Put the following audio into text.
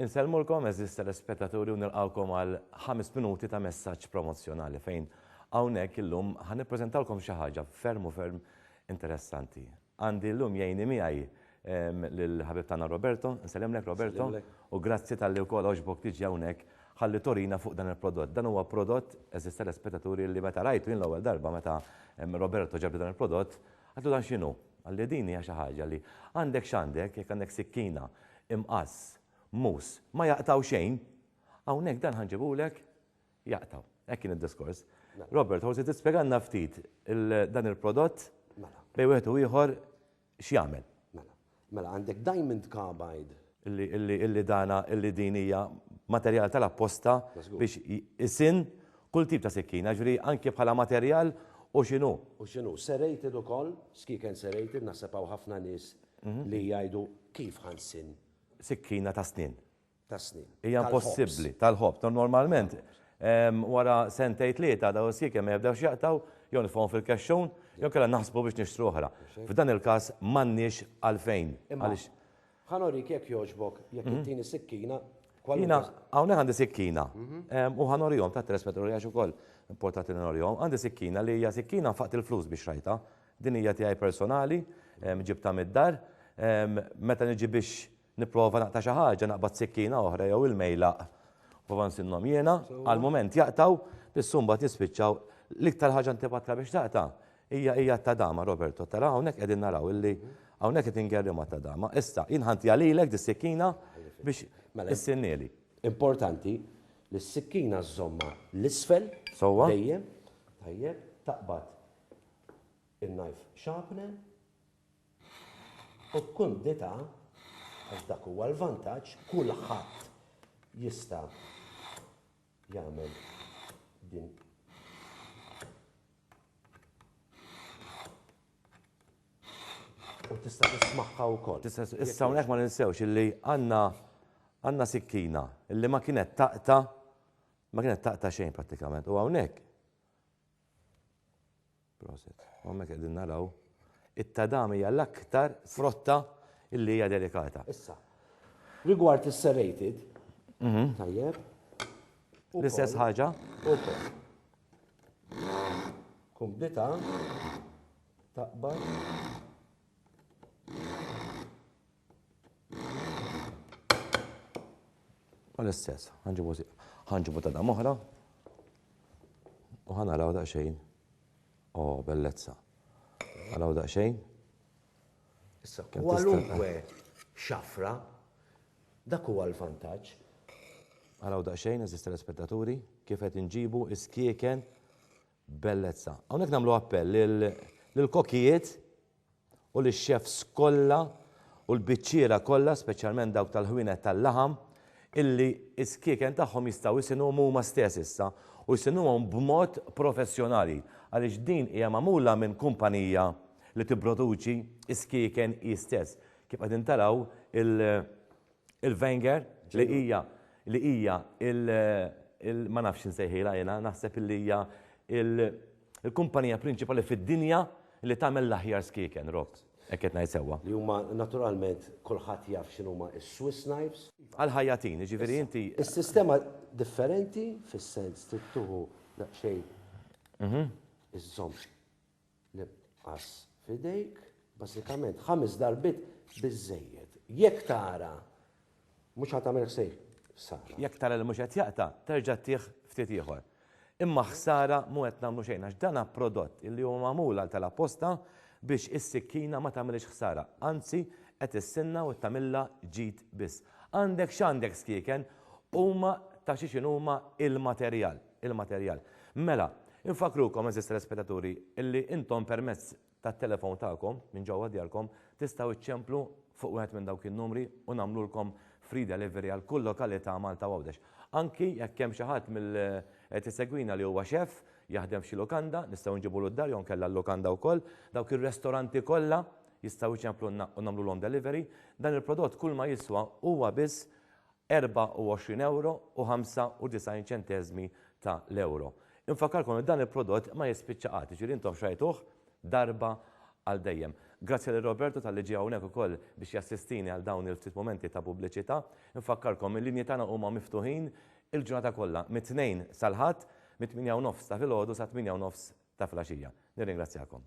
Insellmulkom għeżież telespettaturi u nilqgħukom għal ħames minuti ta' messaġġ promozzjonali fejn hawnhekk illum ħa nippreżentawlkom xi ħaġa ferm u ferm interessanti. Għandi llum jgħinni miegħi lill-ħabib tagħna Roberto, nsellimlek Roberto, u grazzi talli wkoll għoġbok tiġi hawnhekk ħalli torina fuq dan il-prodott. Dan huwa prodott eżister l-aspettaturi li meta rajtu jien l-ewwel darba meta Roberto ġabli dan il-prodott, Għidlu dan x'inhu? Qalli din hija xi ħaġa li għandek x'għandek, jekk għandek sikkina, imqass, muss, ma jaqtgħu xejn, hawnhekk dan ħa nġibulek jaqtgħu. Hekk kien id-diskors. Robert, forsi tispjegalna ftit dan il-prodott mela. bejn wieħed u ieħor x'jagħmel. Mela għandek diamond carbide. Illi illi illi dana illi din hija materjal tal-apposta biex isin kull tip ta' sikkina, ġifieri anke bħala materjal u x'inhu. U x'inhu. Serrated ukoll, skiek and serrated, naħseb hawn ħafna nies li jgħidu kif ħa nsinn. Sikkina ta' snien. tas-snien. Hija impossibbli, tal-ħobż. Normalment, wara sentejn tlieta dawn is-siekem ma jibdewx jaqtgħu, jew nitfgħuhom fil-kexxun, jew inkella naħsbu biex nixtru oħra. F'dan il-każ m'għandniex għalfejn. Imma, ħa nurik jekk jogħġbok, jekk ittini sikkina, kwalunkwe. Jiena hawnhekk għandi sikkina, u ħa nurihom, ta' tres meta nurihiex ukoll, importanti li nurihom. Għandi sikkina li hija sikkina nfaqt il-flus biex xtrajtha. Din hija tiegħi personali, ġibtha mid-dar. Meta niġi biex Nipprova naqta' xi ħaġa, naqbad sikkina oħra jew il-mejlaq. Nipprova nsinnhom jiena, għall-mument jaqtgħu, biss mbagħad jispiċċaw. L-iktar ħaġa antipatika biex taqta' hija hija t-tadama, Roberto. Tara hawnhekk qegħdin naraw illi hawnhekk qed ingerrimha t-tadama. Issa, jien ħantiha lilek dis-sikkina biex issinnieli. Importanti li s-sikkina żżommha l-isfel dejjem, tajjeb, taqbad in-knife sharpener. U b'kumdità, għax dak huwa l-vantaġġ, kulħadd jista' jagħmel din u tista' tismagħha wkoll. Issa hawnhekk ma ninsewx illi għandna għandna sikkina illi ma kienet taqta ma kienet taqta xejn prattikament u hawnhekk Proset. U hemmhekk qegħdin naraw it-tadam hija l-aktar frotta illi hija delikata. Issa, rigward is-serrated, mhm. tajjeb, l-istess ħaġa. Kumdita taqbad U l-istess, ħanġibu ta' dam oħra u ħanaraw daqsxejn. O, bellezza. Għaraw daqsxejn. Issa, kwalunkwe xafra, dak huwa l-vantaġġ. Għaraw daqsxejn, eżisti l-spettaturi, kif qed inġibu iskieken Bellezza. Hawnhekk nagħmlu appell lil lill-kokijiet u lix-chefs kollha u l-biċċiera kollha, speċjalment dawk tal-ħwienet tal-laħam, illi s-skieken tagħhom jistgħu jsinuhom huma stess issa u jsinuhom b'mod professjonali għaliex din hija magħmula minn kumpanija li tipproduċi s-skieken hi stess. Kif qegħdin taraw il, Il-Wenger li hija li hija il ma nafx insejħilha jiena, naħseb li hija il-kumpanija prinċipali fid-dinja li tagħmel l-aħjar skieken, Rob. Hekk qed ngħid sewwa. Li huma naturalment kulħadd jaf x'inhuma s-Swiss knives. Għall-ħajjatin, jiġifieri inti. Is-sistema differenti fis-sens trid tieħu daqsxejn iżżomm L-imqass f'idejk, bażikament ħames darbiet biżżejjed. Jekk tara mhux qed tagħmel ħsara. Jekk tara li mhux qed jaqta', terġa' tih ftit ieħor. Imma ħsara mhu qed nagħmlu xejn għax dan hu prodott li hu magħmul għal tal-apposta biex is-sikkina ma tagħmilhiex ħsara, anzi qed issinnha u tagħmilha ġid biss. Għandek x'għandek skieken, huma ta' xi x'inhuma il-materjal. il-materjal. Mela, infakkrukom, għeżież telespettaturi, illi intom permezz tat-telefon tagħkom, minn ġewwa djarkom, tistgħu ċċemplu fuq wieħed minn dawk in-numri u nagħmlulkom free delivery għal kull lokalità Malta u Għawdex. Anki jekk hemm xi ħadd mill qed isegwina li huwa xef, jaħdem f'xi lukanda, nistgħu nġibulu d-dar jew nkella l-lukanda wkoll, dawk ir-restoranti kollha jistgħu jċemplulna u nagħmlulhom delivery. Dan il-prodott kulma jiswa huwa biss 24 ewro u 95 ċenteżmi ta' l-ewro. Infakkarkom li dan il-prodott ma jispiċċa qatt, jiġifieri intom xtrajtuh darba għal dejjem. Grazzi lil Roberto talli ġie hawnhekk ukoll biex jassistini għal dawn il-ftit mumenti ta' pubbliċità. Infakkarkom il-linji tagħna huma miftuħin il-ġurnata kollha mit-Tnejn sal-Ħadd mit-tmienja u nofs ta' filgħodu sat-tmienja u nofs ta' filgħaxija. Nirringrazzjakom.